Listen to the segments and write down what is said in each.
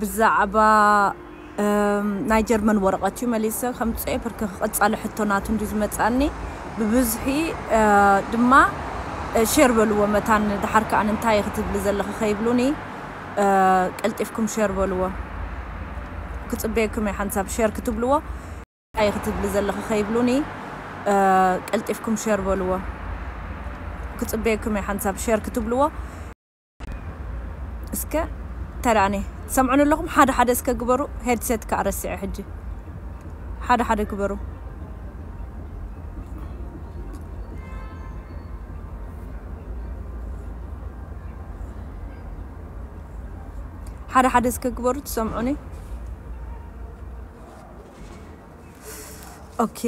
ብዛዕባ ናይ ጀርመን ወረቐት እዩ መሊሰ ከምጽኦ ብርክ ክቕጻለ ሕቶ ናቱ እንዲ ዝመጻኒ ብብዝሒ ድማ ሼር በልዎ መታን ድሓር ከኣ እንታይ ክትብሊ ዘለኺ ከይብሉኒ ቀልጢፍኩም ሼር በልዎ ክጽበየኩም እየ ሓንሳብ ሼር ክትብልዎ እንታይ ክትብሊ ዘለኺ ከይብሉኒ ቀልጢፍኩም ሼር በልዎ ክጽበየኩም እየ ሓንሳብ ሼር ክትብልዎ እስከ ተራኔ ትሰምዑን ኣለኹም ሓደ ሓደ እስከ ግበሩ ሄድሴት ከዓ ረሲዐ ሕጂ ሓደ ሓደ ግበሩ ሓደ ሓደ እስከ ግበሩ ትሰምዑኒ ኦኬ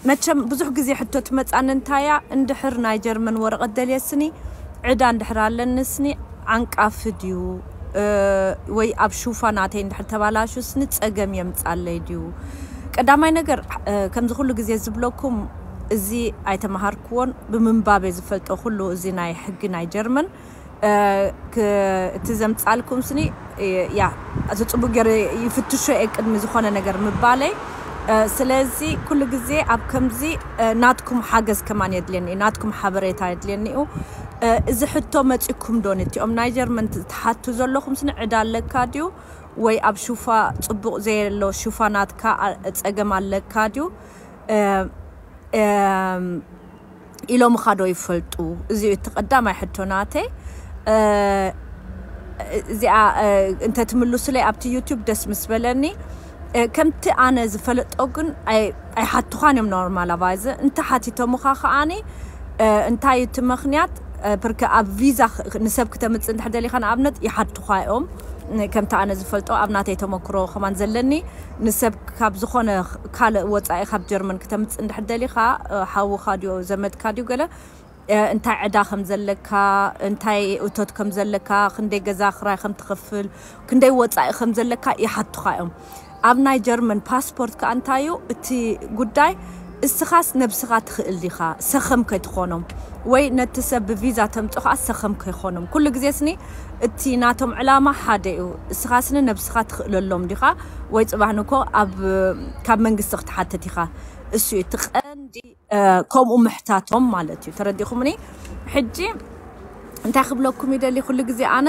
መቸም ብዙሕ ግዜ ሕቶ ትመጻኒ እንታይ እያ እንድሕር ናይ ጀርመን ወረቐት ደልየ ስኒ ዕዳ እንድሕር ኣለኒ ስኒ ዓንቃፊ ድዩ ወይ ኣብ ሹፋ ናተይ እንድሕር ተባላሹ ስኒ ጸገም የምጻለይ ድዩ ቀዳማይ ነገር ከምዚ ኩሉ ግዜ ዝብለኩም እዚ ኣይተማሃርክዎን ብምንባብ እየ ዝፈልጦ ኩሉ እዚ ናይ ሕጊ ናይ ጀርመን እቲ ዘምጻልኩም ስኒ ያ እዚ ጽቡቅ ገይረ ይፍትሾ እየ ቅድሚ ዝኾነ ነገር ምባለይ ስለዚ ኩሉ ግዜ ኣብ ከምዚ ናትኩም ሓገዝ ከማን የድልየኒ እዩ ናትኩም ሓበሬታ የድልየኒ እዩ እዚ ሕቶ መጺኩም ዶ ነቲኦም ናይ ጀርመን ትሓቱ ዘለኹም ስኒ ዕዳ ኣለካ ድዩ ወይ ኣብ ሹፋ ጽቡቅ ዘየሎ ሹፋ ናትካ ጸገም ኣለካ ድዩ ኢሎምኻ ዶ ይፈልጡ እዚ እዩ እቲ ቀዳማይ ሕቶ ናተይ እዚኣ እንተትምልሱለይ ኣብቲ ዩቱብ ደስ ምስ በለኒ ከምቲ ኣነ ዝፈለጦ ግን ኣይሓትዃን እዮም ኖርማል ኣቫይዘ እንተ ሓቲቶምኻ ከዓኒ እንታይ እዩ እቲ ምክንያት ብርከ ኣብ ቪዛ ንሰብ ክተምፅእ እንድሕር ደሊኻ ንኣብነት ይሓትዃ እዮም ከምቲ ኣነ ዝፈልጦ ኣብ ናተይ ተመክሮ ከማን ዘለኒ ንሰብ ካብ ዝኾነ ካልእ ወጻኢ ካብ ጀርመን ክተምጽእ እንድሕር ደሊኻ ሓውኻ ድዮ ዘመድካ ድዩ ገለ እንታይ ዕዳ ከም ዘለካ እንታይ እቶት ከም ዘለካ ክንደይ ገዛ ክራይ ከም ትኽፍል ክንደይ ወጻኢ ከም ዘለካ ይሓቱኻ እዮም ኣብ ናይ ጀርመን ፓስፖርት ከኣ እንታይ እዩ እቲ ጉዳይ እስኻስ ነብስኻ ትኽእል ዲኻ ሰኸም ከይትኾኖም ወይ ነቲ ሰብ ብቪዛ ተምጾ ከኣ ሰኸም ከይኾኖም ኩሉ ግዜ ስኒ እቲ ናቶም ዕላማ ሓደ እዩ እስኻ ስኒ ነብስኻ ትኽእለሎም ዲኻ ወይ ጽባሕ ንግሆ ኣብ ካብ መንግስቲ ክትሓትት ኢኻ እሱ እዩ እቲ ቀንዲ ከምኡ ምሕታቶም ማለት እዩ ተረዲኹምኒ ሕጂ እንታይ ክብለኩም ይደሊ ኩሉ ግዜ ኣነ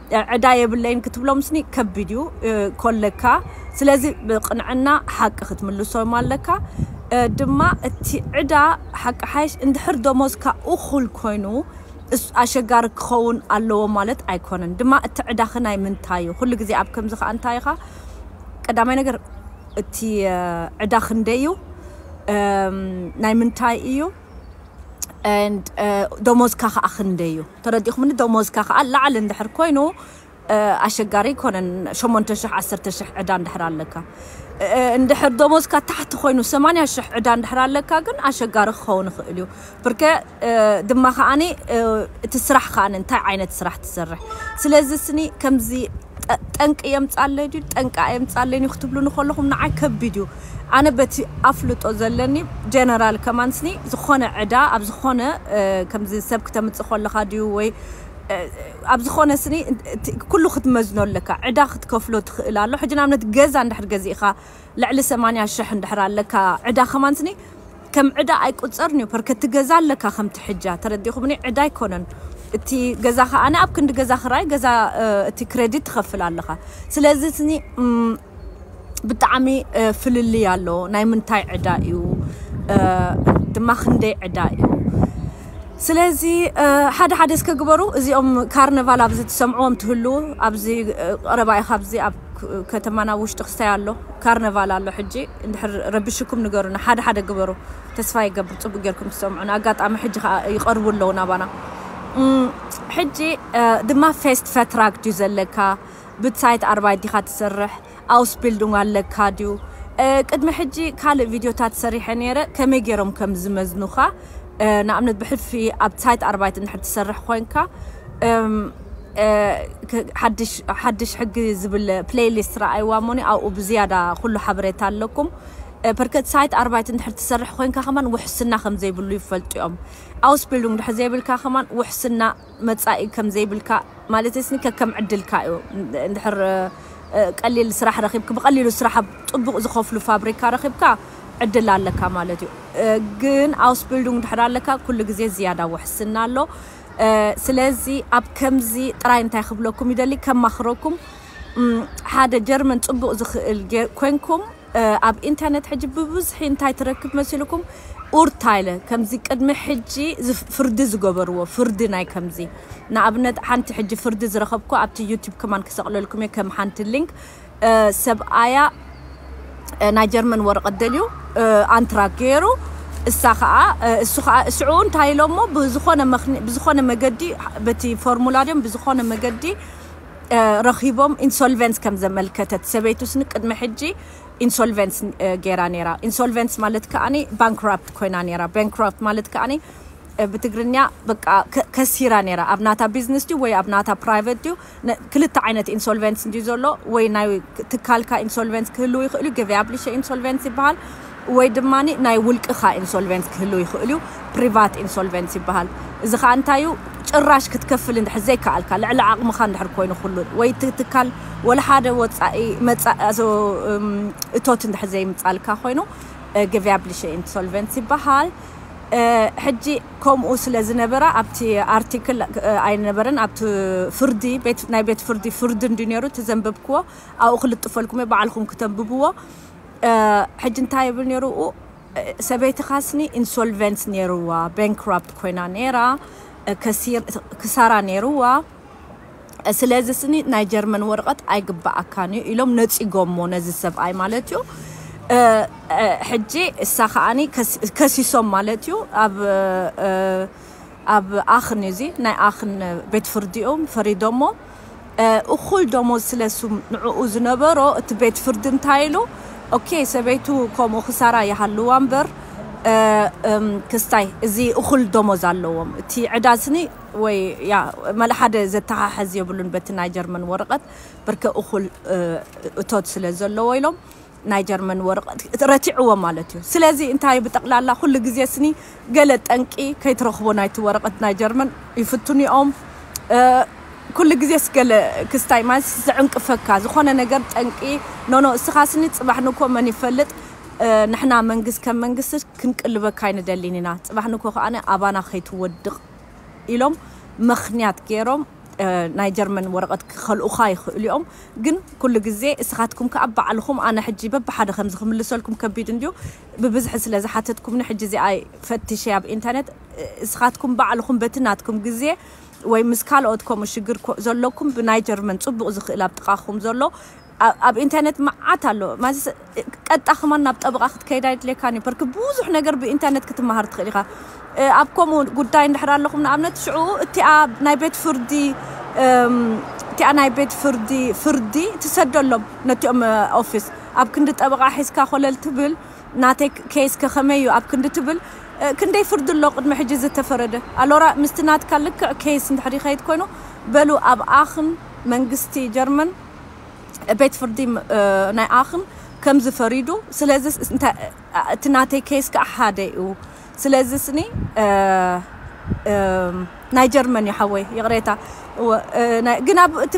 ዕዳ የብለይን ክትብሎምስኒ ከቢድ እዩ ኮለካ ስለዚ ብቅንዕና ሓቂ ክትምልሶም ኣለካ ድማ እቲ ዕዳ ሓቂ ሓይሽ እንድሕር ደሞዝካ እኹል ኮይኑ ኣሸጋሪ ክኸውን ኣለዎ ማለት ኣይኮነን ድማ እቲ ዕዳኺ ናይ ምንታይ እዩ ኩሉ ግዜ ኣብ ከምዚ ከዓ እንታይ ኢኻ ቀዳማይ ነገር እቲ ዕዳ ክንደይ እዩ ናይ ምንታይ እዩ ደሞዝካ ከዓ ክንደይ እዩ ተረዲእኩምኒ ደሞዝካ ከኣ ላዕሊ እንድሕር ኮይኑ ኣሸጋሪ ኣይኮነን ሸሞንተ ሽሕ ዓሰርተ ሽሕ ዕዳ እንድሕር ኣለካ እንድሕር ደሞዝካ ታሕቲ ኮይኑ ሰማንያ ሽሕ ዕዳ እንድሕር ኣለካ ግን ኣሸጋሪ ክኸውን ይኽእል እዩ ብርከ ድማ ከኣኒ እቲ ስራሕ ከኣኒ እንታይ ዓይነት ስራሕ ትሰርሕ ስለዚ ስኒ ከምዚ ጠንቂ የምጻለይ ድዩ ጠንቂ ኣየምጻለይን እዩ ክትብሉኒ ከለኹም ንዓይ ከቢድ እዩ ኣነ በቲ ኣፍልጦ ዘለኒ ጀነራል ከማንስኒ ዝኾነ ዕዳ ኣብ ዝኾነ ከምዚ ሰብ ክተምጽእ ኮለኻ ድዩ ወይ ኣብ ዝኾነ ስኒ ኩሉ ክትመዝኖ ኣለካ ዕዳ ክትከፍሎ ትኽእል ኣሎ ሕጂ ንኣብነት ገዛ እንድሕር ገዚእኻ ልዕሊ ሰማንያ ሽሕ እንድሕር ኣለካ ዕዳ ከማንስኒ ከም ዕዳ ኣይቁጸርንዩ ፐርከቲ ገዛ ኣለካ ከምቲ ሕጃ ተረዲኩምኒ ዕዳ ኣይኮነን እቲ ገዛ ከኣ ኣብ ክንዲ ገዛ ክራይ ገዛ እቲ ክረዲት ትከፍል ኣለካ ስለዚ እትኒ ብጣዕሚ ፍልልይ ኣሎ ናይ ምንታይ ዕዳ እዩ ድማ ክንደይ ዕዳ እዩ ስለዚ ሓደ ሓደ እስከ ግበሩ እዚኦም ካርነቫል ኣብዚ ትሰምዕዎም ትህልዉ ኣብዚ ቀረባ ኢኻ ኣብዚ ከተማና ውሽጢ ክስታይ ኣሎ ካርነቫል ኣሎ ሕጂ እንድሕር ረቢሽኩም ንገሩና ሓደ ሓደ ግበሩ ተስፋ ይገብር ጽቡቅ ጌርኩም ትሰምዑና ኣጋጣሚ ሕጂ ከኣ ይቀርቡ ኣለዉ ናባና ሕጂ ድማ ፌስት ፈትራክ ድዩ ዘለካ ብትሳይት ኣርባይት ዲካ ትሰርሕ ኣውስቢልዱንግ ኣለካ ድዩ ቅድሚ ሕጂ ካልእ ቪድዮታት ሰሪሐ ነይረ ከመይ ገይሮም ከም ዝመዝኑካ ንኣብነት ብሕልፊ ኣብ ሳይት ኣርባይት እንድሕር ትሰርሕ ኮንካ ሓድሽ ሕጊ ዝብል ፕሌይሊስት ረኣይዋ እሞኒ ኣብኡ ብዝያዳ ኩሉ ሓበሬታ ኣለኩም ፐርከት ሳይት ኣርባይት እንድሕር ትሰርሕ ኮንካ ከማን ውሕስና ከም ዘይብሉ ይፈልጡ እዮም ኣውስቢልዱንግ ድሕር ዘይብልካ ከማን ውሕስና መጻኢ ከም ዘይብልካ ማለት ስኒ ከከም ዕድልካ እዩ እንድሕር ቀሊል ስራሕ ረኺብክ ብቐሊሉ ስራሕ ኣብ ጥቡቕ ዝኸፍሉ ፋብሪካ ረኺብካ ዕድል ኣለካ ማለት እዩ ግን ኣውስቢልዱንግ ድሕር ኣለካ ኩሉ ግዜ ዝያዳ ውሕስና ኣሎ ስለዚ ኣብ ከምዚ ጥራይ እንታይ ክብለኩም ይደሊ ከማኽረኩም ሓደ ጀርመን ጽቡቕ ዝኽእል ኮንኩም ኣብ ኢንተርነት ሕጂ ብብዝሒ እንታይ ትረክብ መሲልኩም ኡርታይለ ከምዚ ቅድሚ ሕጂ ፍርዲ ዝገበርዎ ፍርዲ ናይ ከምዚ ንኣብነት ሓንቲ ሕጂ ፍርዲ ዝረኸብኩ ኣብቲ ዩቲብ ከማን ክሰቕለልኩም እየ ከም ሓንቲ ሊንክ ሰብኣያ ናይ ጀርመን ወረቐት ደልዩ ኣንትራክ ገይሩ እሳ ከዓ እሱ ከዓ እስዑ እንታይ ኢሎሞ ብዝኾነ መኽኒ ብዝኾነ መገዲ በቲ ፎርሙላ ድዮም ብዝኾነ መገዲ ረኺቦም ኢንሶልቨንስ ከም ዘመልከተት ሰበይቱ ስኒ ቅድሚ ሕጂ ኢንሶልቨንስ ገይራ ነይራ ኢንሶልቨንስ ማለት ከዓኒ ባንክራፕት ኮይና ነይራ ባንክራፕት ማለት ከዓኒ ብትግርኛ በቃ ከሲራ ነይራ ኣብ ናታ ቢዝነስ ድዩ ወይ ኣብ ናታ ፕራይቨት ድዩ ክልተ ዓይነት ኢንሶልቨንስ እንድዩ ዘሎ ወይ ናይ ትካልካ ኢንሶልቨንስ ክህልው ይኽእልዩ ገቨያብሊሸ ኢንሶልቨንስ ይበሃል ወይ ድማ ናይ ውልቅኻ ኢንሶልቨንስ ክህልው ይኽእልዩ ፕሪቫት ኢንሶልቨንስ ይበሃል እዚ ኸኣ እንታዩ ጭራሽ ክትከፍል እንድሕር ዘይከኣልካ ልዕሊ ዓቕምኻ እንድሕር ኮይኑ ኩሉ ወይ እቲ ትካል ወላ ሓደ ወጻኢ መጻኢ እቶት እንድሕር ዘይምጻልካ ኮይኑ ገቨያብሊሸ ኢንሶልቨንስ ይበሃል ሕጂ ከምኡ ስለ ዝነበረ ኣብቲ ኣርቲክል ኣይነበረን ኣብቲ ፍርዲ ናይ ቤት ፍርዲ ፍርዲ እንድዩ ነይሩ እቲ ዘንበብክዎ ኣብኡ ክልጥፈልኩም እየ ባዕልኹም ክተንብብዎ ሕጂ እንታይ ይብል ነይሩ ሰበይትኻስኒ ኢንሶልቨንት ነይርዋ ባንክራፕት ኮይና ነይራ ክሳራ ነይርዋ ስለዚ ስኒ ናይ ጀርመን ወረቐት ኣይግበኣካን እዩ ኢሎም ነጺጎሞ ነዚ ሰብኣይ ማለት እዩ ሕጂ እሳ ከኣኒ ከሲሶም ማለት እዩ ኣብ ኣብ ኣኽን እዚ ናይ ኣኽን ቤት ፍርዲ እዮም ፈሪዶሞ እኹል ደሞዝ ስለ ሱም ንዕኡ ዝነበሮ እቲ ቤት ፍርዲ እንታይ ኢሉ ኦኬ ሰበይቱ ከምኡ ክሳራ ይሃልዋ እምበር ክስታይ እዚ እኹል ደሞዝ ኣለዎም እቲ ዕዳ ስኒ ወይ ያ መል ሓደ ዘተሓሕዝ የብሉን በቲ ናይ ጀርመን ወረቐት ብርከ እኹል እቶት ስለ ዘለዎ ኢሎም ናይ ጀርመን ወረቐት ረቲዕዎ ማለት እዩ ስለዚ እንታይ ብጠቕላላ ኩሉ ግዜ ስኒ ገለ ጠንቂ ከይትረኽቦ ናይቲ ወረቐት ናይ ጀርመን ይፍትኑ እዮም ኩሉ ግዜ ስገለ ክስታይ ማለት ዝዕንቅፈካ ዝኾነ ነገር ጠንቂ ኖኖ እስኻ ስኒ ጽባሕ ንኮ መን ይፈልጥ ንሕና መንግስት ከም መንግስት ክንቅልበካ ኣይንደሊን ኢና ጽባሕ ንኮ ከኣ ኣባና ከይትወድቕ ኢሎም ምኽንያት ጌሮም ናይ ጀርመን ወረቐት ክኸልኡኻ ይኽእሉ እዮም። ግን ኩሉ ግዜ እስኻትኩም ከኣ ባዕልኹም ኣነ ሕጂ በብሓደ ከምዚ ክምልሰልኩም ከቢድ እንድዩ ብብዝሒ ስለ ዝሓተትኩምኒ ሕጂ እዚኣ ፈትሸያ ኣብ ኢንተርነት እስኻትኩም ባዕልኹም በቲ ናትኩም ግዜ ወይ ምስ ካልኦት ከምኡ ሽግር ዘለኩም ብናይ ጀርመን ጽቡቕ ዝኽእል ኣብ ጥቓኹም ዘሎ ኣብ ኢንተርነት መዓት ኣሎ ማለትስ ቀጥታ ከማን ናብ ጠበቓ ክትከይድ ኣይድልየካን እዩ በርክ ብዙሕ ነገር ብኢንተርነት ክትመሃር ትኽእል ኢኻ ኣብ ከምኡ ጉዳይ እንድሕር ኣለኹም ንኣብነት ሽዑ እቲኣ ናይ ቤት ፍርዲ እቲኣ ናይ ቤት ፍርዲ ፍርዲ ትሰደሎም ነቲኦም ኦፊስ ኣብ ክንዲ ጠበቓ ሒዝካ ኮለል ትብል ናተይ ኬስ ከኸመይ እዩ ኣብ ክንዲ ትብል ክንደይ ፍርዲ ኣሎ ቅድሚ ሕጂ ዝተፈረደ ኣሎራ ምስቲ ናትካ ልክዕ ኬስ እንድሕር ይኸይድ ኮይኑ በሉ ኣብ ኣኽን መንግስቲ ጀርመን ቤት ፍርዲ ናይ ኣክም ከምዚ ፈሪዱ ስለዚ እቲ ናተይ ኬስ ከዓ ሓደ እዩ ስለዚ ስኒ ናይ ጀርመን እዩ ሓወይ ይቅሬታ ግን ኣብ እቲ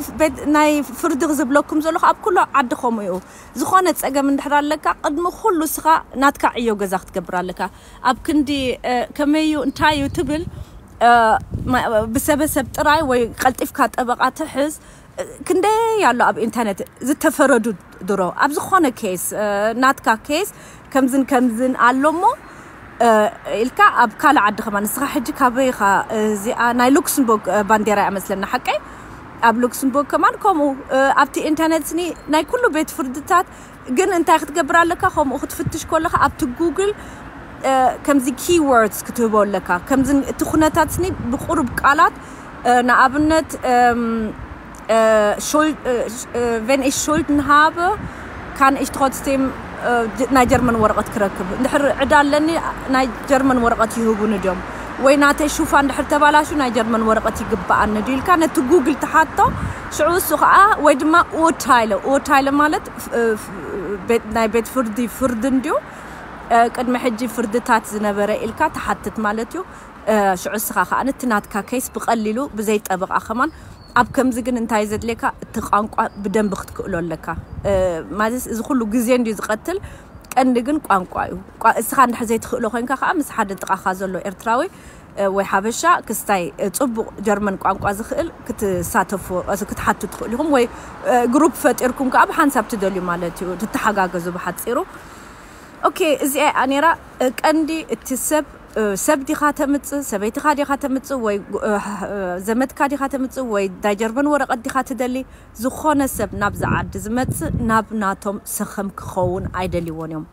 ናይ ፍርዲ ዝብለኩም ዘለኹ ኣብ ኩሉ ዓዲ ከምኡ እዩ ዝኾነ ፀገም እንድሕር ኣለካ ቅድሚ ኩሉ ስኻ ናትካ ዕዮ ገዛ ክትገብር ኣለካ ኣብ ክንዲ ከመይ እዩ እንታይ እዩ ትብል ብሰበሰብ ጥራይ ወይ ቀልጢፍካ ጠበቃ ትሕዝ ክንደይ ኣሎ ኣብ ኢንተርነት ዝተፈረዱ ድሮ ኣብ ዝኾነ ኬስ ናትካ ኬስ ከምዝን ከምዝን ኣሎ እሞ ኢልካ ኣብ ካልእ ዓዲ ከማ ንስኻ ሕጂ ካበይ ኢኻ እዚኣ ናይ ሉክስምቡርግ ባንዴራ እያ መስለና ሓቀይ ኣብ ሉክስምቡርግ ከማን ከምኡ ኣብቲ ኢንተርነት ስኒ ናይ ኩሉ ቤት ፍርድታት ግን እንታይ ክትገብር ኣለካ ከምኡ ክትፍትሽ ኮለካ ኣብቲ ጉግል ከምዚ ኪወርድስ ክትህቦ ኣለካ ከምዚ እቲ ኩነታት ስኒ ብቁሩብ ቃላት ንኣብነት ቨን ኢሽ ሾልድን ሃበ ካን ኢሽ ትሮትስቴም ናይ ጀርመን ወረቐት ክረክብ እንድሕር ዕዳ ኣለኒ ናይ ጀርመን ወረቐት ይህቡኒ ድዮም ወይ ናተይ ሹፋ እንድሕር ተባላሹ ናይ ጀርመን ወረቐት ይግበኣኒ ድዩ ኢልካ ነቲ ጉግል ትሓቶ ሽዑ እሱ ኸኣ ወይ ድማ ኡርታይለ፣ ኡርታይለ ማለት ናይ ቤት ፍርዲ ፍርዲ እንድዩ፣ ቅድሚ ሕጂ ፍርድታት ዝነበረ ኢልካ ትሓትት ማለት እዩ፣ ሽዑ እስኻ ኸኣ እቲ ናትካ ኬስ ብቐሊሉ ብዘይ ጠበቓ ከማን፣ ኣብ ከምዚ ግን እንታይ እዩ ዘድልየካ እቲ ቋንቋ ብደንቢ ክትክእሎ ኣለካ፣ ማለትስ እዚ ኩሉ ግዜ እንድዩ ዝቐትል ቀንዲ ግን ቋንቋ እዩ፣ እስኻ እንድሕር ዘይትኽእሎ ኮይንካ ኸኣ ምስ ሓደ ጥቓኻ ዘሎ ኤርትራዊ ወይ ሓበሻ ክስታይ ጽቡቕ ጀርመን ቋንቋ ዝኽእል ክትሳተፉ ክትሓቱ ትኽእሉ ኢኹም ወይ ግሩፕ ፈጢርኩም ከኣ ብሓንሳብ ትደልዩ ማለት እዩ ትተሓጋገዙ ብሓጺሩ ኦኬ እዚኣ እያ ነይራ ቀንዲ እቲ ሰብ ሰብ ዲኻ ተምጽእ ሰበይትኻ ዲኻ ተምጽእ ወይ ዘመድካ ዲኻ ተምጽእ ወይ ናይ ጀርመን ወረቐት ዲኻ ትደሊ ዝኾነ ሰብ ናብዚ ዓዲ ዝመጽእ ናብ ናቶም ሰኸም ክኸውን ኣይደልይዎን እዮም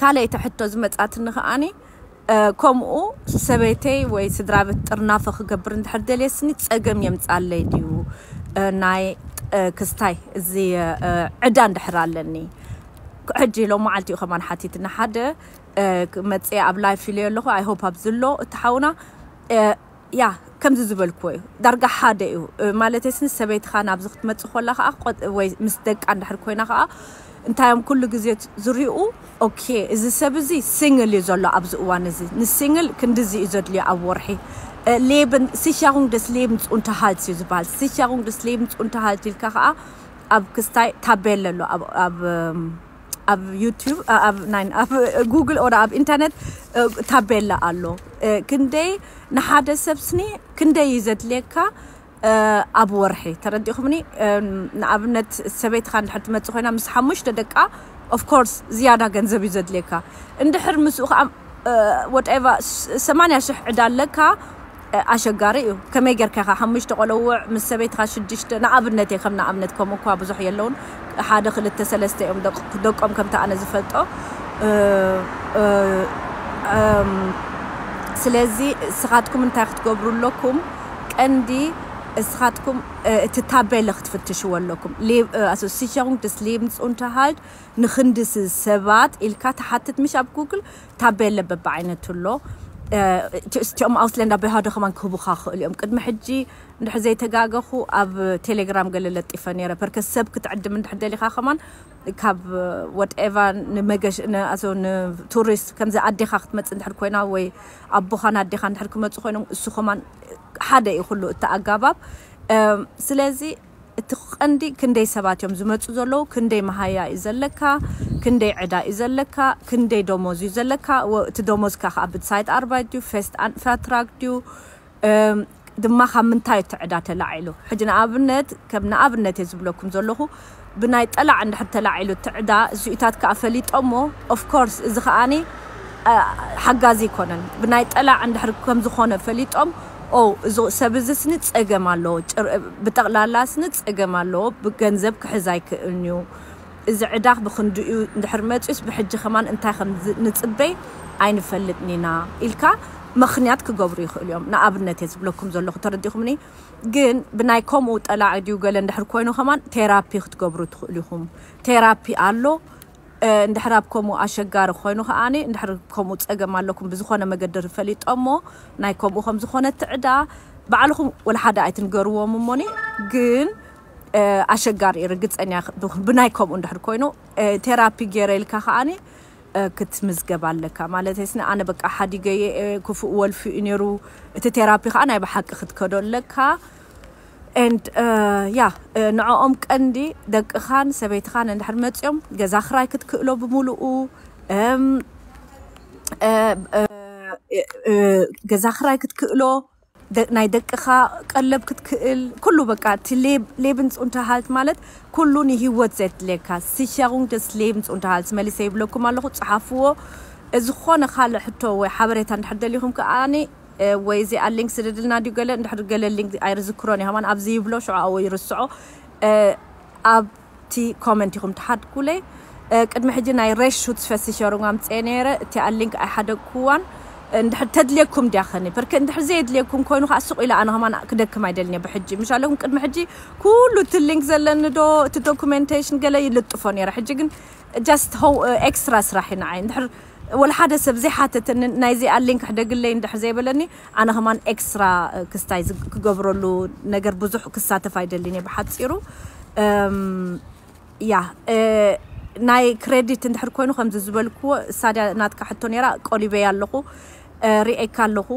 ካልኣይቲ ሕቶ ዝመጻትኒ ከኣኒ ከምኡ ሰበይተይ ወይ ስድራቤት ጥርናፈ ክገብር እንድሕር ደልየስኒ ጸገም የምጻለይ ድዩ ናይ ክስታይ እዚ ዕዳ እንድሕር ኣለኒ ሕጂ ሎም መዓልቲ እዩ ከማን ሓቲትና ሓደ መጽ ኣብ ላይፍ ኢለዮ ኣለኹ ኣይሆፕ ኣብዚ ኣሎ እትሓውና ያህ ከምዚ ዝበልክዎ እዩ ዳርጋ ሓደ እዩ ማለተይ ስንስ ሰበይትካ ናብዚ ክትመጽእ ኮላ ከኣ ቆጥ ወይ ምስ ደቃ እንድሕር ኮይና ከኣ እንታይ እዮም ኩሉ ግዜ ዝሪኡ ኦኬ እዚ ሰብ እዚ ሲንግል እዩ ዘሎ ኣብዚ እዋን እዚ ንሲንግል ክንድዚ እዩ ዘድልዮ ኣብ ወርሒ ሌብን ሲሻሩንግ ደስ ሌብንስ ኡንተ ሃልት እዩ ዝበሃል ሲሻሩንግ ደስ ሌብንስ ኡንተ ሃልት ኢልካ ከኣ ኣብ ክስታይ ታቤለ ኣሎ ኣብ ኣብ ዩቱብ ኣብ ናይ ኣብ ጉግል ኦር ኣብ ኢንተርነት እ፣ ታቤላ ኣሎ እ፣ ክንደይ ንሓደ ሰብ ስኒ ክንደይ እዩ ዘድልየካ እ፣ ኣብ ወርሒ ተረዲኹምኒ እ፣ ንኣብነት ሰበይትኻ እንድሕር ትመጽእ ኮይና ምስ ሓሙሽተ ደቃ ኦፍ ኮርስ ዝያዳ ገንዘብ እዩ ዘድልየካ እንድሕር ምስኡ ከዓ ወትኤቨር 80 ሽሕ ዕዳ ኣለካ ኣሸጋሪ እዩ ከመይ ገርካ ኢካ ሓሙሽተ ቆለዉዕ ምስ ሰበይትካ ሽዱሽተ ንኣብነት እየ ከም ንኣብነት ከምኡ እኳ ብዙሕ የለዉን ሓደ ክልተ ሰለስተ እዮም ደቆም ከምቲ ኣነ ዝፈልጦ ስለዚ እስኻትኩም እንታይ ክትገብሩ ኣለኩም ቀንዲ እስኻትኩም እቲ ታቤለ ክትፍትሽዎ ኣለኩም ኣሶ ሲቸሩንግ ደስ ሌብንስ ኡንተርሃልድ ንክንድስ ሰባት ኢልካ ትሓትት ምሽ ኣብ ጉግል ታቤለ በብዓይነቱ ኣሎ። እቲኦም ኣውስለንዳ ብሃዶ ከማን ክህቡኻ ክኽእሉ እዮም። ቅድሚ ሕጂ እንድሕር ዘይተጋገኹ ኣብ ቴሌግራም ገለ ለጢፈ ነይረ ፐርከ ሰብ ክትዕድም እንድሕር ደሊኻ ከማን ካብ ወትኤቫ ንመገሽ ንኣቶ ንቱሪስት ከምዚ ኣዴኻ ክትመጽእ እንድሕር ኮይና ወይ ኣቦኻን ኣዴኻ እንድሕር ክመጹ ኮይኖም እሱ ከማን ሓደ እዩ ኩሉ እቲ ኣጋባብ ስለዚ እቲ ቀንዲ ክንደይ ሰባት እዮም ዝመጹ ዘለዉ፣ ክንደይ መሃያ እዩ ዘለካ፣ ክንደይ ዕዳ እዩ ዘለካ፣ ክንደይ ደሞዝ እዩ ዘለካ፣ እቲ ደሞዝካ ከኣ ብትሳይት ኣርባይት ድዩ፣ ፌስት ኣን ፌርትራግ ድዩ፣ ድማ ካብ ምንታይ እዩ እቲ ዕዳ ተላዒሉ፣ ሕጂ ንኣብነት ከም ንኣብነት እየ ዝብለኩም ዘለኹ፣ ብናይ ጠላዕ እንድሕር ተላዒሉ እቲ ዕዳ፣ እዚኡታት ከኣ ፈሊጦሞ፣ ኦፍ ኮርስ እዚ ከኣ ሓጋዚ ኣይኮነን፣ ብናይ ጠላዕ እንድሕር ከምዝኾነ ፈሊጦም፣ ኦው እዚ ሰብ እዚ ስኒ ጸገም ኣለዎ ብጠቅላላ ስኒ ጸገም ኣለዎ ገንዘብ ክሕዝ ኣይክእልንዩ እዚ ዕዳኽ ብኽንድኡዩ እንድሕር መጽዩስ ብሕጂ ከማን እንታይ ከምንጽበይ ኣይንፈልጥኒና ኢልካ መኽንያት ክገብሩ ይኽእሉዮም ንኣብነትየ ዝብለኩም ዘለኹ ተረዲኹምኒ ግን ብናይ ከምኡ ጠላዕ ድዩ ገለ እንድሕር ኮይኑ ከማን ቴራፒ ክትገብሩ ትኽእሉ ኢኹም ቴራፒ ኣሎ እንድሕር ኣብ ከምኡ ኣሸጋሪ ኮይኑ ከኣ እንድሕር ከምኡ ጸገም ኣለኩም ብዝኮነ መገዲ ፈሊጦሞ ናይ ከምኡ ከም ዝኮነት ዕዳ ባዕልኩም ወላ ሓደ ኣይትንገርዎም እሞኒ ግን ኣሸጋሪ እዩ ርግጸኛ ብናይ ከምኡ እንድሕር ኮይኑ ቴራፒ ገይረ ኢልካ ከኣ ክትምዝገብ ኣለካ ማለት ስኒ ኣነ በቃ ሓዲገየ ክፉእ ወልፊ እዩ ነይሩ እቲ ቴራፒ ከኣ ናይ ብሓቂ ክትከዶ ኣለካ and yeah ንዖኦም ቀንዲ ደቅኻን ሰበይትኻን እንድሕር መጽዮም ገዛ ክራይ ክትክእሎ ብምሉኡ ገዛ ክራይ ክትክእሎ ናይ ደቅኻ ቀለብ ክትክእል ኩሉ በቃ እቲ ሌብንስ ኡንተሃልት ማለት ኩሉ ንሂወት ዘድልየካ ሲሸሩንግ ደስ ሌብንስ ኡንተሃልት መሊሰ ይብለኩም ኣለኹ ፀሓፍዎ ዝኾነ ካልእ ሕቶ ወይ ሓበሬታ እንድሕር ደሊኹም ከኣ ወይ እዚኣ ሊንክ ስደድልና ድዩ ገለ እንድሕር ገለ ሊንክ ኣይርዝክሮን እየ ከማን ኣብዚ ይብሎ ሽዑ ኣዎ ይርስዖ ኣብቲ ኮመንት ኢኹም ትሓድጉለይ ቅድሚ ሕጂ ናይ ሬሽ ሹትስ ፈሲሸሩን ኣምፀየ ነይረ እቲኣ ሊንክ ኣይሓደግኩዋን እንድሕር ተድልየኩም ድያ ከኒ በርክ እንድሕር ዘየድልየኩም ኮይኑ ከዓ ስቁ ኢለ ኣነ ከማን ክደክም ኣይደልንየ ብሕጂ ምሽ ኣለኩም ቅድሚ ሕጂ ኩሉ እቲ ሊንክ ዘለኒ ዶ እቲ ዶኩሜንቴሽን ገለ ይልጥፎ ነይረ ሕጂ ግን Just how ኤክስትራ ስራሕ እዩ ንዓይ እንድሕር ወላ ሓደ ሰብ ዘይሓተተኒ ናይ እዚኣ ሊንክ ሕደግለይ እንድሕር ዘይበለኒ ኣነ ከማን ኤክስትራ ክስታይ ክገብረሉ ነገር ብዙሕ ክሳተፍ ኣይደልን እየ ብሓጺሩ ያ ናይ ክሬዲት እንድሕር ኮይኑ ከምዚ ዝበልክዎ እሳድያ ናትካ ሕቶ ነይራ ቆሊበያ ኣለኹ ርኤካ ኣለኹ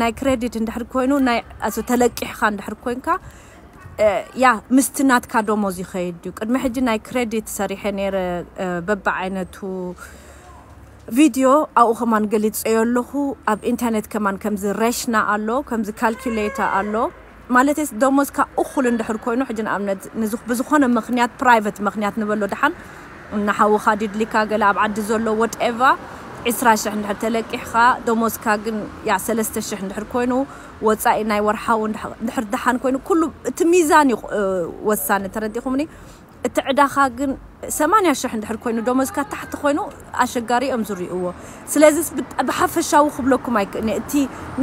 ናይ ክሬዲት እንድሕር ኮይኑ ናይ ተለቂሕካ እንድሕር ኮንካ ያ ምስቲ ናትካ ደሞዝ ይኸይድ ድዩ? ቅድሚ ሕጂ ናይ ክረዲት ሰሪሐ ነይረ በብዓይነቱ ቪድዮ ኣብኡ ከማን ገሊጸዮ ኣለኹ ኣብ ኢንተርኔት ከማን ከምዚ ረሽና ኣሎ ከምዚ ካልኩሌታ ኣሎ ማለተይስ ደሞዝካ እኹል እንድሕር ኮይኑ ሕጂ ንኣብነት ንዚ ብዝኾነ ምኽንያት ፕራይቨት ምኽንያት ንበሎ ድሓን ንሓውኻ ዲድሊካ ገለ ኣብ ዓዲ ዘሎ ወትኤቫ ዕስራ ሽሕ እንድሕር ተለቂሕኻ ደሞዝካ ግን ያ ሰለስተ ሽሕ እንድሕር ኮይኑ ወጻኢ ናይ ወርሓዊ እንድሕር ደሓን ኮይኑ ኩሉ እቲ ሚዛን እዩ ወሳኒ ተረዲእኹምኒ እቲ ዕዳኻ ግን ሰማንያ ሽሕ እንድሕር ኮይኑ ደሞዝካ ታሕቲ ኮይኑ ኣሸጋሪ እዮም ዝሪእዎ ስለዚ ብሓፈሻዊ ክብለኩም ኣይክእልኒ እቲ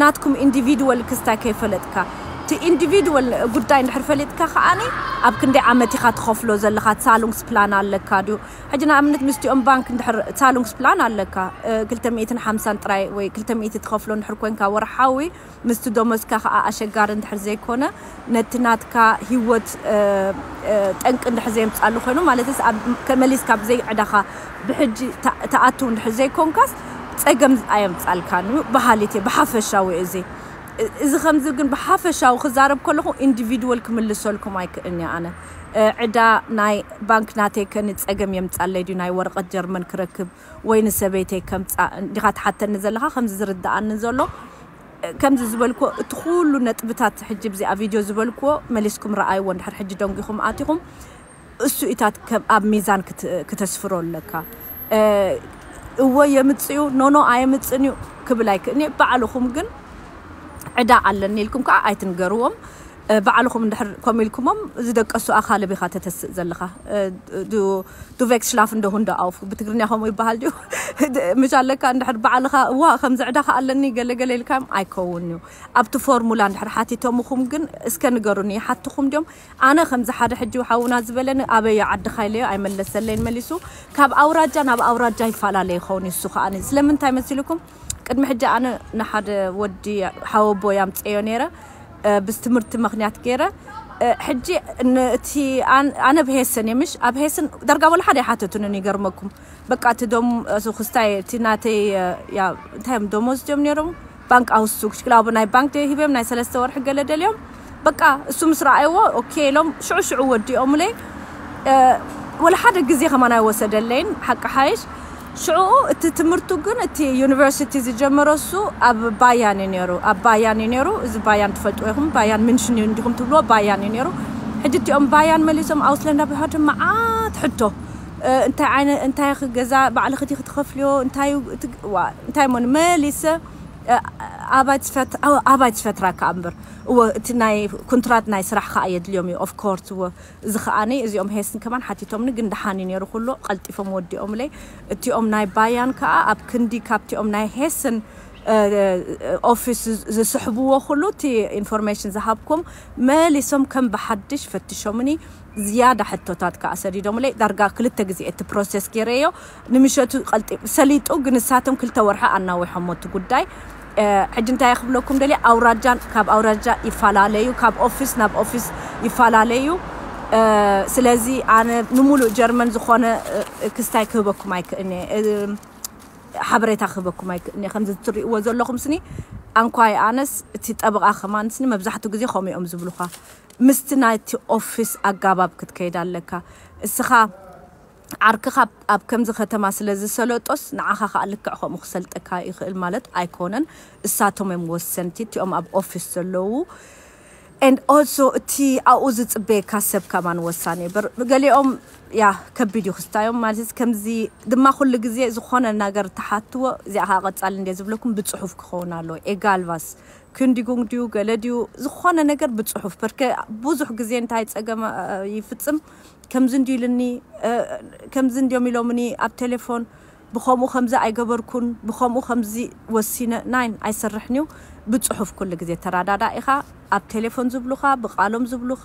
ናትኩም ኢንዲቪድወል ክስታይ ከይፈለጥካ እቲ ኢንዲቪድወል ጉዳይ እንድሕር ፈሊጥካ ከዓኒ ኣብ ክንደይ ዓመት ኢኻ ትኸፍሎ ዘለኻ ሳሉንግስ ፕላን ኣለካ ድዩ ሕጂ ንኣብነት ምስቲኦም ባንክ እንድሕር ዛሉንግስፕላን ኣለካ ክልተ ሚእትን ሓምሳን ጥራይ ወይ ክልተ ሚእቲ ትኸፍሎ እንድሕር ኮንካ ወርሓዊ ምስቲ ዶሞዝካ ከኣ ኣሸጋሪ እንድሕር ዘይኮነ ነቲ ናትካ ሂወት ጠንቂ እንድሕር ዘየምጻሉ ኮይኑ ማለተስ ኣብ መሊስካ ብዘይ ዕዳኻ ብሕጂ ትኣትው እንድሕር ዘይኮንካስ ጸገም ኣየምጻልካን እዩ በሃሊት እየ ብሓፈሻዊ እዚ እዚ ከምዚ ግን ብሓፈሻዊ ክዛረብ ከለኹ ኢንዲቪድወል ክምልሰልኩም ኣይክእልን እየ ኣነ ዕዳ ናይ ባንክ ናተይ ከ ንጸገም የምጻለይ ድዩ ናይ ወረቀት ጀርመን ክረክብ ወይ ንሰበይተይ ከምጻእ እንዲካ ትሓተኒ ዘለካ ከምዚ ዝርደኣኒ ዘሎ ከምዚ ዝበልክዎ እቲ ኩሉ ነጥብታት ሕጂ ብዚኣ ቪድዮ ዝበልክዎ መሊስኩም ረኣይዎ እንድሕር ሕጂ ደንጊኩም ኣቲኩም እሱኢታት ከም ኣብ ሚዛን ክተስፍሮ ኣለካ እወ የምጽዩ ኖኖ ኣየምጽን እዩ ክብል ኣይክእልንየ ባዕልኩም ግን ዕዳ ኣለኒ ኢልኩም ከዓ ኣይትንገርዎም ባዕልኹም እንድሕር ከምኡ ኢልኩሞም እዚ ደቀሱ ኣኻልብ ኢኻ ተተስእ ዘለኻ ዱ ዱ ቨክስ ሽላፍን ዶ ሁንዶ ኣውፍ ብትግርኛ ከምኡ ይበሃል ድዩ ምሽ ኣለካ እንድሕር ባዕልኻ እዋ ከምዚ ዕዳ ከ ኣለኒ ገለ ገለ ኢልካዮም ኣይከውን እዩ ኣብቲ ፎርሙላ እንድሕር ሓቲቶምኹም ግን እስከ ንገሩኒ ይሓትኹም ድዮም ኣነ ከምዚ ሓደ ሕጂ ሓውና ዝበለኒ ኣበይ እዩ ዓድኻ ኢለዮ ኣይመለሰለይን መሊሱ ካብ ኣውራጃ ናብ ኣውራጃ ይፈላለ ይኸውን እዩ እሱ ከኣ ስለምንታይ መሲልኩም ቅድሚ ሕጂ ኣነ ንሓደ ወዲ ሓወቦይ ኣምጼዮ ኔረ ብስ ትምህርቲ መክንያት ጌረ ሕጂ ን እቲ ኣነ ኣብ ሄሰን እየ ምሽ ኣብ ሄሰን ዳርጋ ወላ ሓደ ኣይሓተቱንን ይገርመኩም በቃ እቲ ዶም እሱ ክስታይ እቲ ናተይ ያ እንታይ እዮም ደሞዝ ድዮም ኔሮም ባንክ ኣውስቱግ ሽክላቡ ናይ ባንክ ሂበዮም ናይ ሰለስተ ወርሒ ገለ ደልዮም በቃ እሱ ምስ ረኣይዎ ኦኬ ኢሎም ሽዑ ሽዑ ወዲኦምለይ ወላ ሓደ ግዜ ከማን ኣይወሰደለይን ሓቂ ሓይሽ ሽዑኡ እቲ ትምህርቱ ግን እቲ ዩኒቨርሲቲ ዝጀመሮ እሱ ኣብ ባያን እዩ ነይሩ ኣብ ባያን እዩ ነይሩ እዚ ባያን ትፈልጥዎ ኢኹም ባያን ምንሽን እዩ እንዲኹም ትብልዎ ባያን እዩ ነይሩ ሕጂ እቲኦም ባያን መሊሶም ኣውስለንዳ ብሃድም መዓት ሕቶ እንታይ ዓይነ እንታይ ኢኺ ገዛ ባዕልኺ ዲኺ ትኸፍልዮ እንታይ እዩ እቲ ዋ እንታይ እሞ መሊሰ ኣባይት ፈት ኣባይት ፈትራ ከኣ እምበር እወ እቲ ናይ ኩንትራት ናይ ስራሕ ከኣ የድልዮም እዩ ኦፍ ኮርት እወ እዚ ከኣኒ እዚኦም ሄስን ከማን ሓቲቶምኒ ግን ደሓን እዩ ኔሩ ኩሉ ቀልጢፎም ወዲኦምለይ እቲኦም ናይ ባያን ከኣ ኣብ ክንዲ ካብቲኦም ናይ ሄስን ኦፊስ ዝስሕብዎ ኩሉ እቲ ኢንፎርሜሽን ዝሃብኩም መሊሶም ከም ብሓድሽ ፈትሾምኒ ዝያዳ ሕቶታት ከኣ ሰዲዶምለይ ዳርጋ ክልተ ግዜ እቲ ፕሮሰስ ጌረዮ ንምሸቱ ቀልጢፉ ሰሊጡ ግን ንሳቶም ክልተ ወርሒ ኣናዊሖሞ እቲ ጉዳይ ሕጂ እንታይ ክብለኩም ደልየ ኣውራጃን ካብ ኣውራጃ ይፈላለዩ ካብ ኦፊስ ናብ ኦፊስ ይፈላለዩ ስለዚ ኣነ ንሙሉእ ጀርመን ዝኾነ ክስታይ ክህበኩም ኣይክእልኒ ሓበሬታ ክህበኩም ኣይክእልኒ ከምዚ ትሪእዎ ዘለኹም ስኒ ኣንኳይ ኣነስ እቲ ጠበቓ ከማንስኒ መብዛሕትኡ ግዜ ከምኡ እዮም ዝብሉኻ ምስቲ ናይቲ ኦፊስ ኣጋባብ ክትከይድ ኣለካ እስኻ ዓርክኻ ኣብ ከምዚ ከተማ ስለ ዝሰለጦስ ንዓኻ ከኣ ልክዕ ከምኡ ክሰልጠካ ይክእል ማለት ኣይኮነን እሳቶም እዮም ወሰንቲ እቲኦም ኣብ ኦፊስ ዘለዉ and also እቲ ኣብኡ ዝጽበየካ ሰብ ከማን ወሳኒ እዩ በር ገሊኦም ያ ከቢድ እዩ ክስታዮም ማለት ከምዚ ድማ ኩሉ ግዜ ዝኾነ ነገር ተሓትዎ እዚኣ ከኣ ቀጻሊ እንደ ዝብለኩም ብጽሑፍ ክኸውን ኣለዎ ኤጋልቫስ ክንዲጉንግ ድዩ ገለ ድዩ ዝኾነ ነገር ብጽሑፍ በርከ ብዙሕ ግዜ እንታይ ጸገም ይፍጽም ከምዚ እንድዩ ኢልኒ ከምዚ እንድዮም ኢሎምኒ ኣብ ቴሌፎን ብከምኡ ከምዚ ኣይገበርኩን ብከምኡ ከምዚ ወሲነ ናይን ኣይሰርሕን እዩ ብጽሑፍ ኩሉ ግዜ ተራዳዳ ኢኻ ኣብ ቴሌፎን ዝብሉኻ ብቃሎም ዝብሉኻ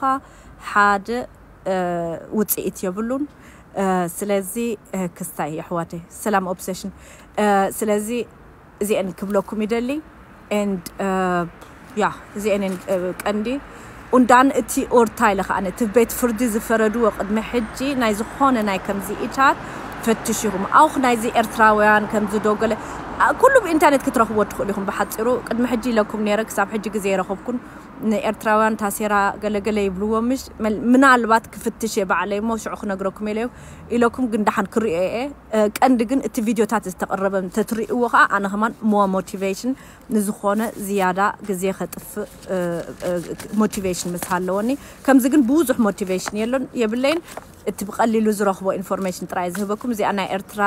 ሓደ ውጽኢት የብሉን ስለዚ ክስታይ የሕዋተይ ሰላም ኦብሰሽን ስለዚ እዚኤን ክብለኩም ይደሊ and ያህ እዚኤን እየን ቀንዲ ኡንዳን እቲ ኡርታይለ ከኣ እቲ ቤት ፍርዲ ዝፈረድዎ ቅድሚ ሕጂ ናይ ዝኾነ ናይ ከምዚ ኢታት ፈትሽኹም ኣውኽ ናይዚ ኤርትራውያን ከምዚ ዶገለ ኩሉ ብኢንተርኔት ክትረኽብዎ ትኽእሉ ኢኹም ብሓጺሩ ቅድሚ ሕጂ ኢለኩም ነይረ ክሳብ ሕጂ ግዜ የረኸብኩን ንኤርትራውያን ታሴራ ገለገለ ይብልዎ ምሽ ምናልባት ክፍትሽ እየ ባዕለይ እሞ ሽዑ ክነግረኩም ኢለዩ ኢለኩም ግን ደሓን ክርእዮ እየ ቀንዲ ግን እቲ ቪድዮታት ዝተቅረበ እንተትሪእዎ ከኣ ኣነ ከማን ሞር ሞቲቬሽን ንዝኾነ ዝያዳ ግዜ ከጥፍእ ሞቲቬሽን ምስ ሃለወኒ ከምዚ ግን ብዙሕ ሞቲቬሽን የሎን የብለይን እቲ ብቀሊሉ ዝረኽቦ ኢንፎርሜሽን ጥራይ ዝህበኩም እዚኣ ናይ ኤርትራ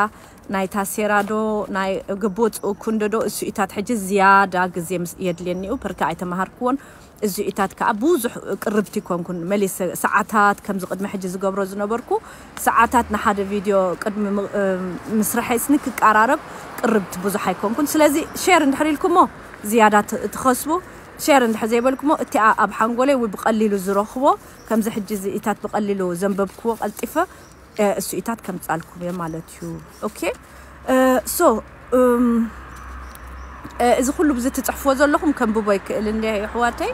ናይ ታሴራ ዶ ናይ ግቡእ ኩንዶ ዶ እሱ ኢታት ሕጂ ዝያዳ ግዜ የድልየኒኡ ፐርካ ኣይተማሃርክዎን እዚኡታት ከኣ ብዙሕ ቅርብቲ ኣይኮንኩን፣ መሊሰ ሰዓታት ከምዚ ቅድሚ ሕጂ ዝገብሮ ዝነበርኩ ሰዓታት ንሓደ ቪድዮ ቅድሚ ምስርሐይ ስኒ ክቃራረብ ቅርብቲ ብዙሕ ኣይኮንኩን፣ ስለዚ ሼር እንድሕር ኢልኩሞ ዝያዳ ትኸስቡ፣ ሼር እንድሕር ዘይበልኩሞ እቲኣ ኣብ ሓንጎለይ ወይ ብቀሊሉ ዝረኽቦ ከምዚ ሕጂ እዚኡታት ብቀሊሉ ዘንበብክዎ ቀልጢፈ እሱኢታት ከምጻልኩም እየ ማለት እዩ ኦኬ ሶ እዚ ኩሉ ብዚ ትጽሕፍዎ ዘለኹም ከንብቦ ይክእል እንዲ የሕዋተይ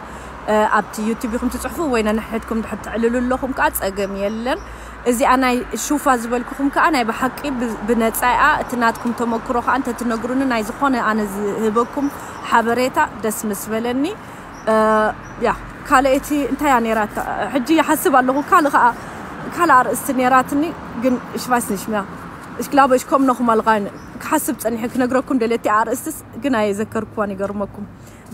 ኣብቲ ዩቲብ ይኹም ትጽሕፉ ወይ ነንሕድኩም ድሕር ትዕልሉ ኣለኹም ከዓ ጸገም የለን እዚኣ ናይ ሹፋ ዝበልኩኹም ከዓ ናይ ብሓቂ ብነፃ እያ እቲ ናትኩም ተመክሮ ከዓ እንተትነግሩኒ ናይ ዝኾነ ኣነ ዝህበኩም ሓበሬታ ደስ ምስ በለኒ ያ ካልኣይቲ እንታይ እያ ነይራታ ሕጂ ይሓስብ ኣለኹ ካልእ ከዓ ካልእ ኣርእስቲ ነይራትኒ ግን እሽ ቫይስ ኒሽ ሚያ እሽ ግላበ እሽ ኮም ነኹም ኣልቃይነ ክሓስብ ፀኒሐ ክነግረኩም ደልየ እቲኣ ኣርእስትስ ግን ኣየዘከርኩዋን ይገርመኩም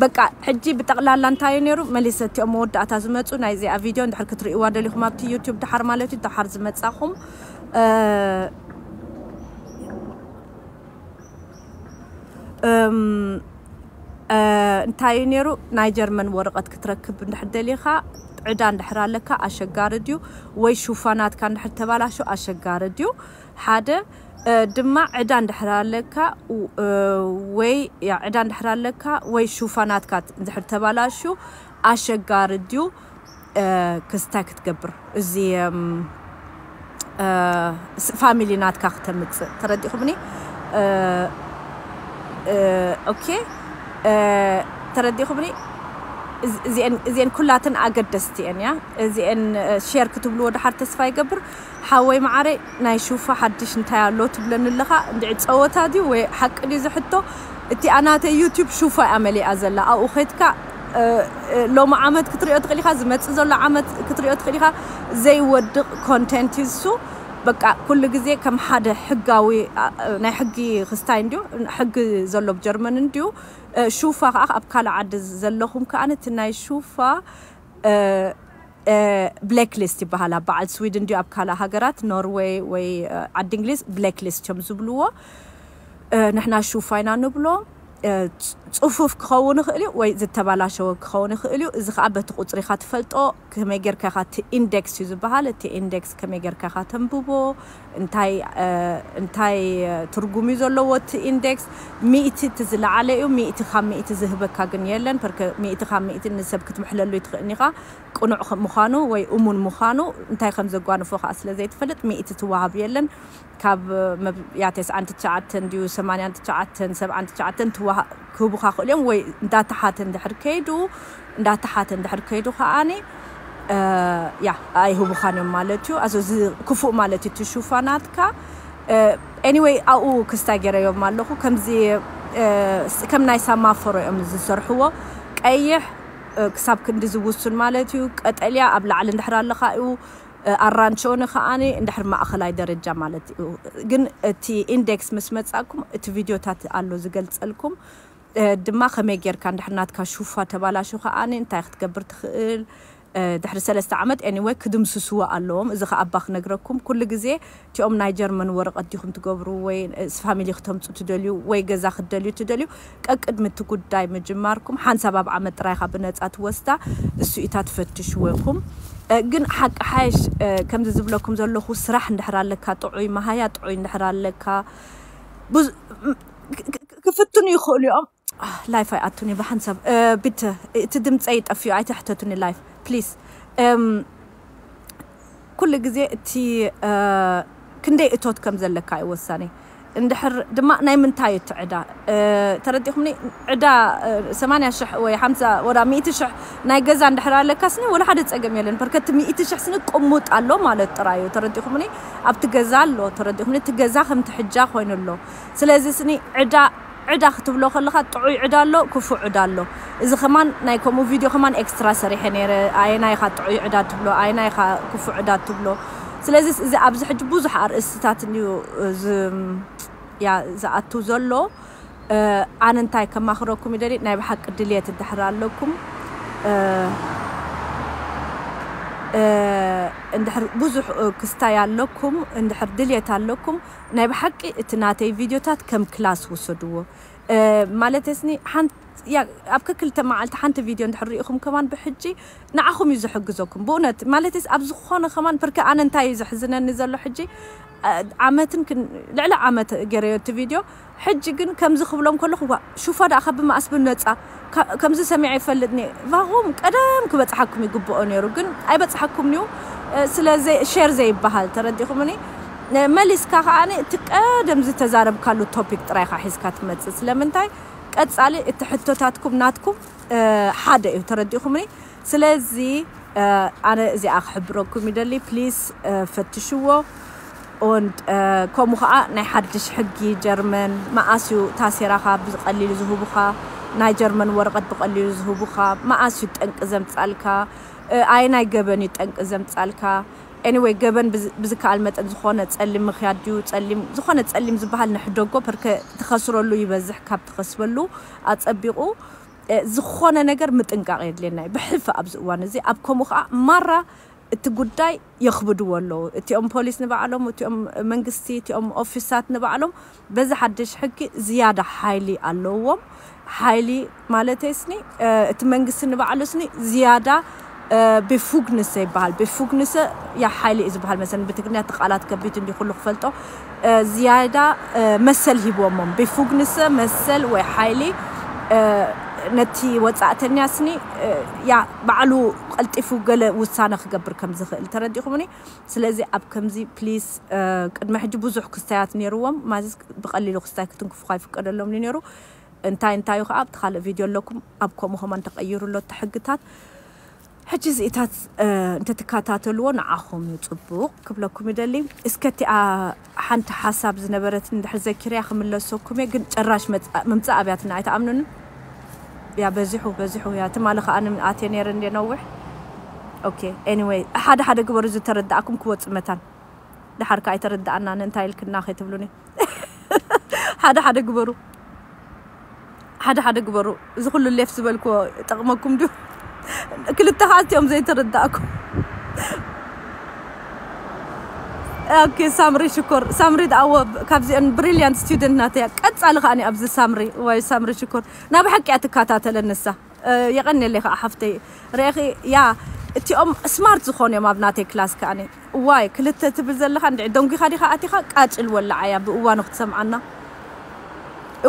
በቃ ሕጂ ብጠቕላላ እንታይ እዩ ነይሩ መሊሰ እቲኦም መወዳእታ ዝመፁ ናይ እዚኣ ቪድዮ እንድሕር ክትርእይዋ ደሊኹም ኣብቲ ዩቱብ ድሓር ማለት እዩ ድሓር ዝመፃኹም እንታይ እዩ ነይሩ ናይ ጀርመን ወረቐት ክትረክብ እንድሕር ደሊኻ ዕዳ እንድሕር ኣለካ ኣሸጋሪ ድዩ ወይ ሹፋናትካ እንድሕር ተባላሾ ኣሸጋሪ ድዩ ሓደ ድማ ዕዳ እንድሕር ኣለካ ወይ ዕዳ እንድሕር ኣለካ ወይ ሹፋናትካ እንድሕር ተባላሹ ኣሸጋሪ ድዩ ክስታይ ክትገብር እዚ ፋሚሊ ናትካ ክተምጽእ ተረዲኹምኒ ኦኬ ተረዲኹምኒ እዚኤን ኩላተን ኣገደስቲ እየን እያ እዚኤን ሼር ክትብልዎ ድሓር ተስፋ ይገብር ሓወይ መዓረይ ናይ ሹፋ ሓድሽ እንታይ ኣሎ ትብለኒ ኣለኻ እንድዒ ጸወታ ድዩ ወይ ሓቂ ድዩ እዚ ሕቶ እቲኣ ናተይ ዩቱብ ሹፋ እያ መሊኣ ዘላ ኣብኡ ከድካ ሎሚ ዓመት ክትሪኦ ትኽእል ኢኻ ዝመጽእ ዘሎ ዓመት ክትሪኦ ትኽእል ኢኻ ዘይወድቕ ኮንቴንት እዩ እሱ በቃ ኩሉ ግዜ ከም ሓደ ሕጋዊ ናይ ሕጊ ክስታይ እንድዩ ሕጊ ዘሎ ብጀርመን እንድዩ ሹፋ ከኣ ኣብ ካልእ ዓዲ ዘለኹም ከኣ እቲ ናይ ሹፋ ብሌክ ሊስት ይበሃል ኣብ በዓል ስዊድን ድዩ ኣብ ካልእ ሃገራት ኖርወይ ወይ ዓዲ እንግሊዝ ብሌክ ሊስት ቸም ዝብልዎ ንሕና ሹፋ ኢና ንብሎ ፅፉፍ ክኸውን ይኽእል እዩ ወይ ዝተባላሸወ ክኸውን ይኽእል እዩ እዚ ከዓ በቲ ቁፅሪኻ ትፈልጦ ከመይ ጌርካ ኢኻ እቲ ኢንዴክስ እዩ ዝበሃል እቲ ኢንዴክስ ከመይ ጌርካ ኢኻ ተንብቦ እንታይ እንታይ ትርጉም እዩ ዘለዎ እቲ Index ሚእቲ እቲ ዝለዓለ እዩ ሚእቲ ካብ ሚእቲ ዝህበካ ግን የለን ፐርከ ሚእቲ ካብ ሚእቲ ንሰብ ክትምሕለሉ ኣይትኽእን ኢኻ ቅኑዕ ምዃኑ ወይ እሙን ምዃኑ እንታይ ከም ዘጓንፎ ከኣ ስለ ዘይትፈልጥ ሚእቲ ትወሃብ የለን ካብ መብ ያ ተስዓን ትሽዓተን ድዩ ሰማንያን ትሽዓተን ሰብዓን ትሽዓተን ትወሃ ክህቡኻ ይኽእሉ እዮም ወይ እንዳተሓተ እንድሕር ከይዱ እንዳተሓተ እንድሕር ከይዱ ከኣ ያ ኣይህቡኻን እዮም ማለት እዩ ኣዞ እዚ ክፉእ ማለት እዩ እቲ ሹፋ ናትካ ኤኒወይ ኣብኡ ክስታይ ገይረዮም ኣለኹ ከምዚ ከም ናይ ሳማፎሮ እዮም ዝሰርሕዎ ቀይሕ ክሳብ ክንዲ ዝውሱን ማለት እዩ ቀጠልያ ኣብ ላዕሊ እንድሕር ኣለኻ እዩ ኣራንቸኦነ ከኣ እንድሕር ማእኸላይ ደረጃ ማለት እዩ ግን እቲ ኢንደክስ ምስ መጻእኩም እቲ ቪድዮታት ኣሎ ዝገልጸልኩም ድማ ከመይ ጌርካ እንድሕር ናትካ ሹፋ ተባላሹ ከኣ እንታይ ክትገብር ትኽእል ድሕሪ ሰለስተ ዓመት ኤኒወይ ክድምስስዎ ኣለዎም እዚ ከኣ ኣባ ክነግረኩም ኩሉ ግዜ እቲኦም ናይ ጀርመን ወረቐት ዲኹም ትገብሩ ወይ ስ ፋሚሊ ክተምጹ ትደልዩ ወይ ገዛ ክትደልዩ እትደልዩ ቀቅድሚ እቲ ጉዳይ ምጅማርኩም ሓንሳብ ኣብ ዓመት ጥራይ ኢኻ ብነጻ ትወስዳ እሱኢታ ትፈትሽዎ ኢኹም ግን ሓቂ ሓይሽ ከምዚ ዝብለኩም ዘለኹ ስራሕ እንድሕር ኣለካ ጥዑይ መሃያ ጥዑይ እንድሕር ኣለካ ብዙ ክፍትኑ ይኽእሉ እዮም። ኣህ ላይፍ ኣይኣቱን እየ ብሓንሳብ ቢተ እቲ ድምፀይ ጠፊኡ ኣይተሕተቱኒ ላይፍ ፕሊስ እም ኩሉ ግዜ እቲ ክንደይ እቶት ከም ዘለካ እዩ ወሳኒ እንድሕር ድማ ናይ ምንታይ እዩ እቲ ዕዳ ተረዲኹምኒ ዕዳ 80 ሽሕ ወይ 50 ወላ 100 ሽሕ ናይ ገዛ እንድሕር ኣለካስኒ ወላ ሓደ ፀገም የለን በርከቲ 100 ሽሕ ስኒ ቅሙጥ ኣሎ ማለት ጥራይ እዩ ተረዲኹምኒ ኣብቲ ገዛ ኣሎ ተረዲኹምኒ እቲ ገዛ ከምቲ ሕጃ ኮይኑ ኣሎ ስለዚ ስኒ ዕዳ ዕዳ ክትብሎ ከለኻ ጥዑይ ዕዳ ኣሎ ኩፉእ ዕዳ ኣሎ እዚ ከማን ናይ ከምኡ ቪድዮ ከማን ኤክስትራ ሰሪሐ ነይረ ኣየናይ ኢኻ ጥዑይ ዕዳ ትብሎ ኣየናይ ኢኻ ኩፉእ ዕዳ ትብሎ ስለዚ እዚ ኣብዚ ሕጂ ብዙሕ ኣርእስትታት እንድዩ ያ ዝኣቱ ዘሎ ኣነ እንታይ ከማኽረኩም ይደሊ ናይ ብሓቂ ድልየት እንድሕር ኣለኩም እንድሕር ብዙሕ ክስታይ ኣለኩም እንድሕር ድልየት ኣለኩም ናይ ብሓቂ እቲ ናተይ ቪድዮታት ከም ክላስ ውሰድዎ ማለተይስኒ ኣብ ከክልተ መዓልቲ ሓንቲ ቪድዮ እንድሕር ርኢኹም ከማን ብሕጂ ንዓኹም እዩ ዝሕግዘኩም ብእውነት ማለተይስ ኣብ ዝኾነ ከማን ፍርኪ ኣነ እንታይ እዩ ዘሕዝነኒ ዘሎ ሕጂ ዓመትን ልዕሊ ዓመት ገረዮ እቲ ቪድዮ ሕጂ ግን ከምዚ ክብሎም ከለኩ ዋእ ሹፋ ዳኣ ካብ ብማኣስ ብነጻ ከምዚ ሰሚዐ ይፈልጥኒ ቫኩም ቀደም ክበጽሓኩም ይግብኦ ነሩ ግን ኣይበጽሓኩምንዩ ስለ ሸር ዘይባሃል ተረዲኩምኒ መሊስካ ካኣ እቲ ቀደም ዝተዛረብካሉ ቶፒክ ጥራይ ኢካ ሒዝካ ትመጽእ ስለምንታይ ቀጻሊ እቲ ሕቶታትኩም ናትኩም ሓደ እዩ ተረዲኩምኒ ስለዚ ኣነ እዚኣ ክሕብረኩም ይደሊ ፕሊስ ፈትሽዎ ኦንድ ከምኡ ከዓ ናይ ሓድሽ ሕጊ ጀርመን መኣስ እዩ ታሴራኻ ብቀሊሉ ዝህቡኻ ናይ ጀርመን ወረቀት ብቀሊሉ ዝህቡኻ መኣስ እዩ ጠንቂ ዘምፃልካ ኣይ ናይ ገበን እዩ ጠንቂ ዘምፃልካ ኤኒወይ ገበን ብዝከኣል መጠን ዝኾነ ፀሊም ምክያድ ድዩ ፀሊም ዝኾነ ፀሊም ዝበሃል ንሕደጎ ፐርከ ትኸስረሉ ይበዝሕ ካብ ትኸስበሉ ኣፀቢቑ ዝኾነ ነገር ምጥንቃቕ የድልየና እዩ ብሕልፊ ኣብዚ እዋን እዚ ኣብ ከምኡ ከኣ ማራ እቲ ጉዳይ የኽብድዎ ኣለዉ እቲኦም ፖሊስ ንባዕሎም እቲኦም መንግስቲ እቲኦም ኦፊሳት ንባዕሎም በዚ ሓድሽ ሕጊ ዝያዳ ሓይሊ ኣለዎም ሓይሊ ማለተይስኒ እቲ መንግስቲ ንባዕሉስኒ ዝያዳ ቤፉግንሰ ይበሃል ቤፉግንሰ ያ ሓይሊ እዩ ዝበሃል መሰለኒ ብትግርኛ እቲ ቃላት ከቢድ እንዲ ኩሉ ክፈልጦ ዝያዳ መሰል ሂቦሞም ቤፉግንሰ መሰል ወይ ሓይሊ ነቲ ወጻእተኛ ስኒ ያ ባዕሉ ቀልጢፉ ገለ ውሳነ ክገብር ከም ዝኽእል ተረዲኹምኒ ስለዚ ኣብ ከምዚ ፕሊስ ቅድሚ ሕጂ ብዙሕ ክስታያት ነይርዎም ማዚስ ብቀሊሉ ክስታይ ክትንክፉ ኣይፍቀደሎምኒ ነይሩ እንታይ እንታዩ ከኣ ኣብቲ ካልእ ቪድዮ ኣለኩም ኣብ ከምኡ ከማን ተቀይሩ ኣሎ እቲ ሕግታት ሕጂ እዚኢታት እንተትካታተልዎ ንዓኹም እዩ ጽቡቅ ክብለኩም ይደሊ እስከ እቲኣ ሓንቲ ሓሳብ ዝነበረትኒ እንድሕር ዘኪረያ ክምለሰኩም እየ ግን ጨራሽ ምምጻእ ኣብያትና ኣይትኣምኑንን ያ በዚሑ በዚሑ ያ ትማሊ ከኣ ኣትየ ነይረ እንዴ ነውሕ ኦኬ ኤኒዌይ ሓደ ሓደ ግበሩ ዝተረዳእኩም ክወጽእ መታን ድሓር ከኣ ኣይተረዳኣናን እንታይ ኢልክና ከይትብሉኒ ሓደ ሓደ ግበሩ ሓደ ሓደ ግበሩ እዚ ኩሉ ሌፍ ዝበልክዎ ጠቕመኩም ድዩ ክልተ ከዓ እትኦም ዘይተረዳእኩም ኦኬ ሳምሪ ሽኮር ሳምሪ ኣዎ ካብዚአን ብሪልያንት ስቱደንት ናተያ ቀጻሊ ከዓኒ ኣብዚ ሳምሪ ወይ ሳምሪ ሽኮር ናብ ሓቂ እያ ትከታተለን ንሳ የቀኔለይ ከኣ ሓፍተይ ሬኪያ እቲኦም ስማርት ዝኮኑ እዮም ኣብ ናተይ ክላስ ከኣ እዋይ ክልተ ትብል ዘለካ እንድዒ ደንጒካ ዲካ ኣቲካ ቃጭል ወላዓያ ብእዋኑ ክትሰምዓና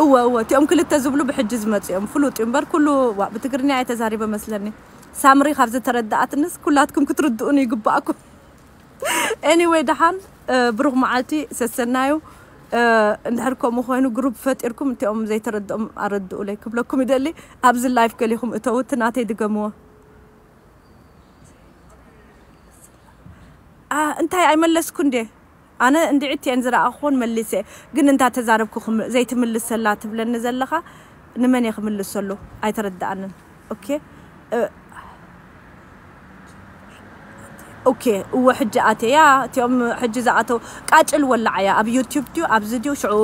እወ እወ እቲኦም ክልተ ዝብሉ ብሕጂ ዝመጹ እዮም ፍሉጥ እዩ እምበር ኩሉ ዋእ ብትግርኛ እየ ተዛሪበ መስለኒ ሳምሪ ካብ ዝተረዳኣትንስ ኩላትኩም ክትርድኡኒ ይግባኣኩም ኤኒወይ ደሓን ብሩኽ መዓልቲ ሰሰናዩ እንድሕር ከምኡ ኮይኑ ግሩፕ ፈጢርኩም እቲኦም ዘይተረድኦም ኣረድኡለይ ክብለኩም ይደሊ ኣብዚ ላይፍ ገሊኹም እተው እቲ ናተይ ድገምዎ እንታይ ኣይመለስኩ እንዴ ኣነ እንድዒት እየን ዝረኣኹን መሊሰ ግን እንታ ተዛረብኩ ዘይትምልሰላ ትብለኒ ዘለኻ ንመን እየ ክምልሰሉ ኣይተረድኣንን ኦኬ እወ ሕጂ ኣትየ ያ እቲኦም ሕጂ ዝኣተው ቃጭል ወላዓያ ኣብ ዩቲዩብ ድዩ ኣብዚ ድዩ ሽዑ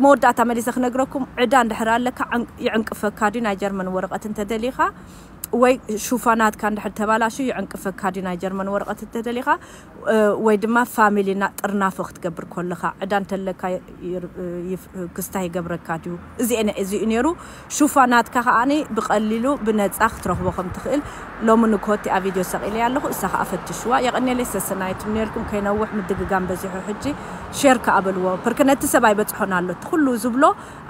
መወዳእታ መሊሰ ክነግረኩም ዕዳ እንድሕር ኣለካ ይዕንቅፈካ ድዩ ናይ ጀርመን ወረቀት እንተደሊካ ወይ ሹፋናትካ እንድሕር ተባላሹ ይዕንቅፈካ ድዩ ናይ ጀርመን ወረቀት እንተደሊካ ወይ ድማ ፋሚሊ እና ጥርናፈ ክትገብር ኮለኻ ዕዳ እንተለካ ክስታ ይገብረካ ድዩ እዚኤን እዚ እዩ ነይሩ ሹፋ ናትካ ከኣ ብቀሊሉ ብነጻ ክትረኽቦ ከም ትኽእል ሎሚ ንኮቲኣ ቪድዮ ሰቂለያ ኣለኹ እሳ ከኣ ፈትሽዋ የቀኔለይ ሰሰናይት ምኔርኩም ከይነውሕ ምድግጋም በዚሑ ሕጂ ሼር ከኣ በልዎ ፕርክ ነቲ ሰብ ኣይበጽሖን ኣሎ እቲ ኩሉ ዝብሎ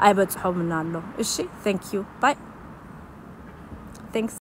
ኣይበጽሖምን ኣሎ እሺ thank you bye thanks